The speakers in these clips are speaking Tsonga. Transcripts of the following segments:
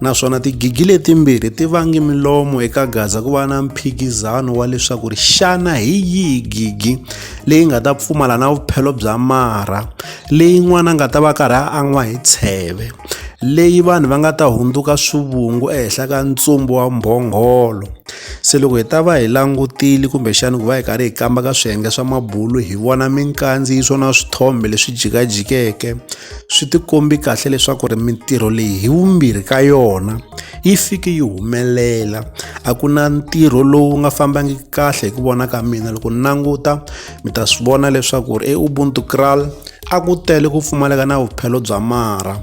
naswona tigigi letimbirhi ti vange milomo eka gaza ku va na mphikizano wa leswaku ri xana hi yihi gigi leyi nga ta pfumala na vuphelo bya marha leyi n'wana nga ta va karhi a an'wa hi tsheve leyi vanhu va nga ta hundzuka swivungu ehenhla ka ntsumbu wa mbhongholo se loko hi ta va hi langutile kumbexana ku va hi karhi hi kamba ka swiyenge swa mabulu hi vona minkandziyiso na swithombe leswi jikajikeke swi tikombi kahle leswaku ri mintirho leyi hi vumbirhi ka yona yi fike yi humelela a ku na ntirho lowu nga fambangi kahle hi ku vona ka mina loko ni languta mi ta swi vona leswaku ri eubuntu kral a ku tele ku pfumaleka na vuphelo bya mara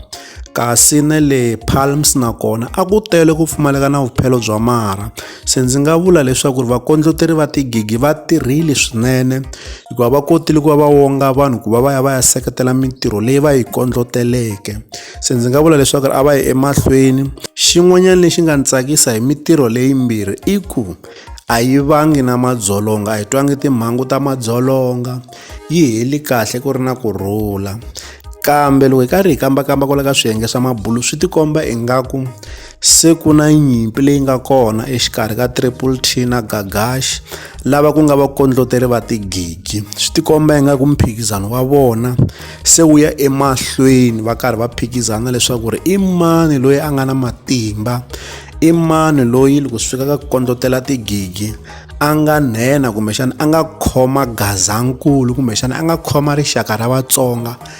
kasi na le palms nakona a ku tele ku pfumaleka na vuphelo bya mara Se ndzi nga vula leswaku ri vakondleteri va tigigi va tirhile swinene hikuva va kotile ku va va wonga vanhu ku va va ya va ya seketela mintirho leyi va yi kondloteleke se ndzi nga vula leswaku ri a va yi emahlweni xin'wanyana lexi nga ni tsakisa hi mintirho leyimbirhi i ku a yi vangi na madzolonga a hi twangi timhangu ta madzolonga yi heli kahle ku ri na ku rhula kambe loko hi karhi hi kambakamba kwala ka swiyenge swa mabulu swi tikomba ingaku se ku na nyimpi leyi nga kona exikarhi ka triple t na gagash lava ku nga vakondloteri va tigigi swi tikomba ingaku mphikizano wa vona se wu ya emahlweni va karhi va phikizana leswaku ri i mani loyi a nga na matimba i mani loyi loko swi fika ka ku kondlotela tigigi a nga nhenha kumbexana a nga khoma gazankulu kumbexana a nga khoma rixaka ra vatsonga